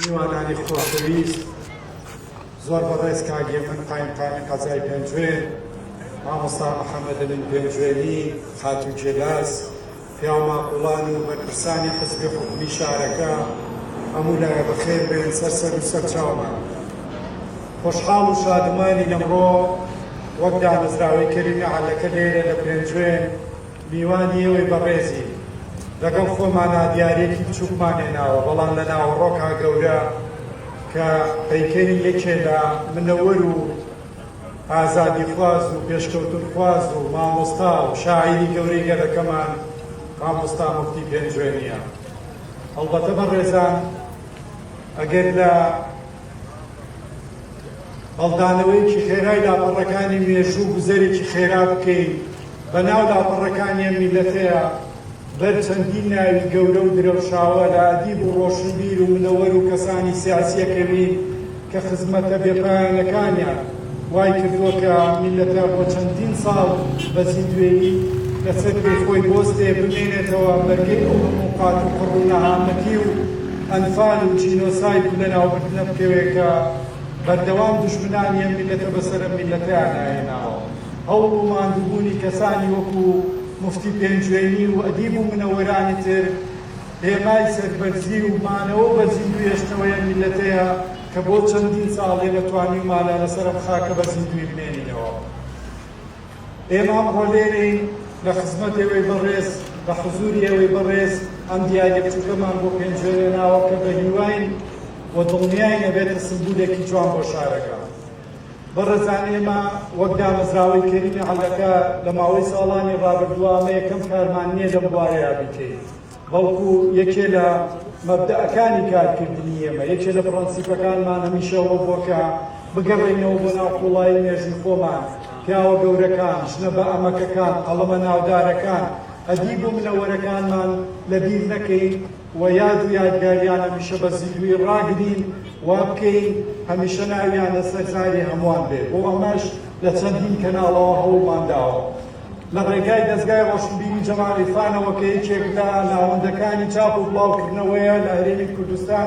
میوانانی خۆشەویست زۆر بەڕێز کاک هێمن قایمقامی قەزای پێنجوێن، مامۆستا محەمەد ئەمین پێنجوێنی، خاتوو جێلاس، پیاو ماقوڵان و بەرپرسانی حزبی و حکومی شارەکە هەموو لایە بەخێر بێن سەر سەر و سەر چاومان. خۆشحاڵ و شادومانین ئەمڕۆ وەک دامەزراوەی کەریمی عەلەکە لێرە لە پێنجوێن، میوانی ئێوەی بەڕێزین لەگەڵ خۆمانا دیاریەکی بچوکمان هێناوە بەڵام لە ناوەڕۆکا گەورە کە پەیکەری یەکێ لە منەوەر و ئازادیخواز و پێشکەوتنخواز و مامۆستا و شاعیری گەورەی گەلەکەمان مامۆستا مفتی پێنجوێنیە هەڵبەتە بەڕێزان ئەگەر لە هەڵدانەوەیەکی خێرای لاپەڕەکانی مێژوو گوزەرێکی خێرا بکەین بەناو لاپەڕەکانی ئەم میلەتەیە بەر چەندین ناوی گەورە و درەوشاوە لە ئەدیب و ڕۆشنبیر و منەوەر و کەسانی سیاسیەکەوین کە خزمەتە بێپایانەکانیان وای کردووە کە میللەتە بۆ چەندین ساڵ بە زیندوێی لە چەتری خۆی بۆستێ بمێنێتەوە بەرگەی ئەو هەموو قات و قڕ و نەهامەتی و ئەنفال و جینۆساید و لەناوبردنە بکەوێ کە بەردەوام دوژمنانی ئەم میللەتە بەسەر ئەم میللەتەیا ناهێناوە هەوڵ و ماندوبونی کەسانی وەکو موفتی پێنجوێنی و ئەدیب و منەوەرانی تر هێمای سەربەرزی و مانەوە بە زیندوی ئەشنەوەی ئەم میللەتەیە. کە بۆ چەندین ساڵەی نەتوانیومانە لەسەر ئەم خاکە بە زیندووی بمێنینەوە. ئێمە ئەمڕۆ لێرەین لە خزمەت ئێوەی بەڕێز، لە حزووری ئێوەی بەڕێز ئەم دیارییە بچووکەمان بۆ پێنجوێنێناوە کە بە هیواین و دڵنیاین ئەبێتە سمبولێکی جوان بۆ شارەکە. بەڕێزان ئێمە وەک دامەزراوەی کەریمی عەلەکە لە ماوەی ساڵانی ڕابردووە ئەمە یەکەم کارمان نییە لەم بوارەیا بیکەین. بەڵکو یەکێ لە مەبدەئەکانی کارکردنی ئێمە، یەکێ لە پڕەنسیپەکانمان هەمیشە ئەوە بووە کە بگەڕێینەوە بۆ ناو قووڵایی مێژووی خۆمان، پیاوە گەورەکان، ژنە بەئەمەکەکان، قەڵەمە ناودارەکان، ئەدیب و منەوەرەکانمان لەبیر نەکەین و یاد و یادگاریان هەمیشە بە زیندوویی ڕاگرین، وابکەین هەمیشە ناویان لەسەر زاری هەمووان بێت، بۆ ئەمەش لە چەندین کەناڵەوە هەوڵمان داوە. لە ڕێگای دەزگای ڕۆشنبیری جەمال عیرفانەوە کە یەکێک لە ناوەندەکانی چاپ و بڵاوکردنەوەیە لە هەرێمی کوردستان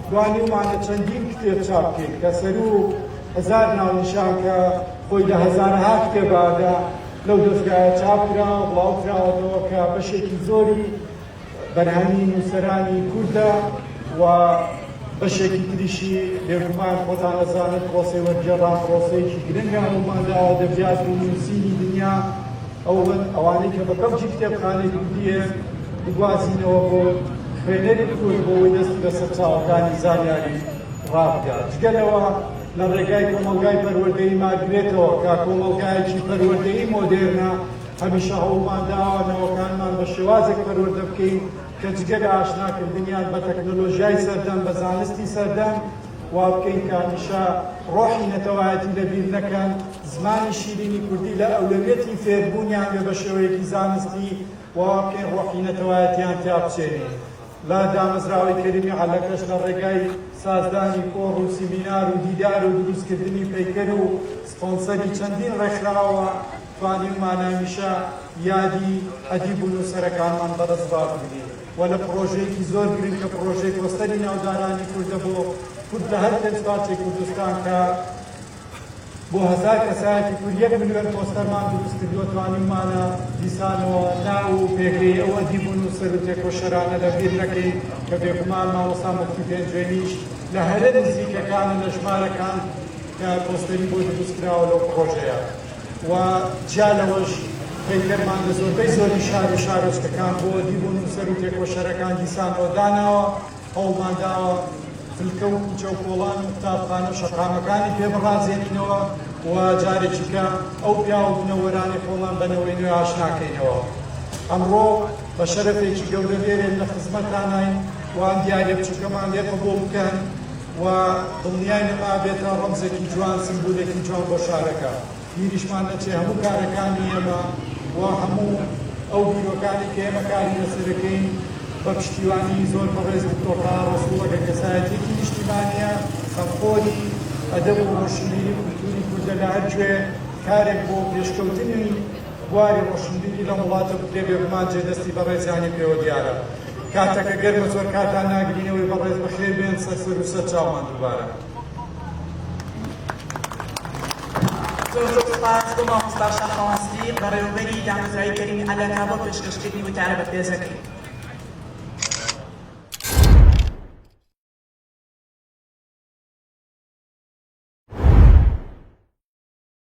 توانیومانە چەندین کتێب چاپ بکەین کە سەروو هەزار ناونیشان کە خۆی لە هەزارەها کتێبە لە لەو دەزگایە چاپ کراوە بڵاو کراوەتەوە کە بەشێکی زۆری بەرهەمی نووسەرانی کوردە و بەشێکی تریشی بێگومان خۆتان ئەزانن پرۆسەی وەرگێڕان پرۆسەیەکی گرنگە هەموومان لە ئەدەبیات و نووسینی دنیا ئەوەن ئەوانەی کە بە کەڵکی کتێبخانەی کوردییە بگوازینەوە بۆ خوێنەری کورد بۆ ئەوەی دەستی بە سەرچاوەکانی زانیاری ڕابگات جگە لەوە لە ڕێگای کۆمەڵگای پەروەردەیی مارگرێتەوە کە کۆمەڵگایەکی پەروەردەیی مۆدێرنە هەمیشە هەوڵمان داوە نەوەکانمان بە شێوازێک پەروەردە بکەین کە جگە لە ئاشناکردنیان بە تەکنەلۆژیای سەردەم، بە زانستی سەردەم، وا بکەین کە هەمیشە ڕۆحی نەتەوایەتی لەبیر نەکەن، زمانی شیرینی کوردی لە ئەولەویەتی فێربوونیان بێ بە شێوەیەکی زانستی و وا بکەین ڕۆحی نەتەوایەتییان تیا بچێنین. لە دامەزراوەی کەریمی عەلەکەش لە ڕێگای سازدانی کۆڕ و سیمینار و دیدار و دروستکردنی پەیکەر و سپۆنسەری چەندین ڕێکخراوە، توانیم ماناویشە یادی ئەدیب و نووسەرەکانمان بەدەستڕا بگرین و لە پڕۆژەیەکی زۆر گرنگ کە پڕۆژەی پۆستەری ناودارانی کوردە بۆ کورد لە هەر پێنج پارچەی کوردستان کە بۆ هەزار کەسایەتی کورد یەک ملیۆن پۆستەرمان دروست کردووە توانیممانە دیسانەوە ناو و پێگەی ئەو ئەدیب و نووسەر و تێکۆشەرانە لەبیر نەکەین کە بێگومان مامۆستا مفتی پێنجوێنیش لە هەرە نزیکەکانە لە ژمارەکان کە پۆستەری بۆ دروستکراوە لەو پڕۆژەیە و جیا لەوەش پەیکەرمان لە زۆربەی زۆری شار و شارۆچکەکان بۆ ئەدیب و نووسەر و تێکۆشەرەکان دیسانەوە داناوە، هەوڵمان داوە فلکە و کوچە و کۆڵان و قوتابخانە و شەقامەکانی پێ بڕازێنینەوە و جارێکیکە ئەو پیاو و بنەوەرانەی خۆمان بە نەوەی نوێ ئاشنا کەینەوە. ئەمڕۆ بە شەرەفێکی گەورە لێرەین، لە خزمەتتاناین، وان دیارە بچووکەمان لێ قبووڵ بکەن، و دڵنیای نەما بێتە ڕەمزێکی جوان، سمبولێکی جوان بۆ شارەکە. بیریشمان نەچێ هەموو کارەکانی ئێمە و هەموو ئەو بیرۆکانەی کە ئێمە کاری لەسەرەکەین بە پشتیوانی زۆر بەڕێز دکتۆر تەها ڕەسووڵە کە کەسایەتییەکی نیشتیمانییە، خەمخۆری ئەدەب و ڕۆشنبیری و کولتووری کوردە لە هەر کوێ کارێک بۆ پێشکەوتنی. بواری ڕۆشنبیری لەم وڵاتە بکرێ بێگومان جێ دەستی بەڕێزیانی پێوە دیارە کاتەکە گەرمە زۆر کاتان ناگرینەوەی بەڕێز بەخێر بێن سەر سەر و سەر چاومان دووبارە. زۆر زۆر سوپاس بۆ مامۆستا شاخەوان سدیق بەڕێوەبەری دامەزرای کەریم ئەلەکە بۆ پێشکەشکردنی وتارە بەپێزەکەی.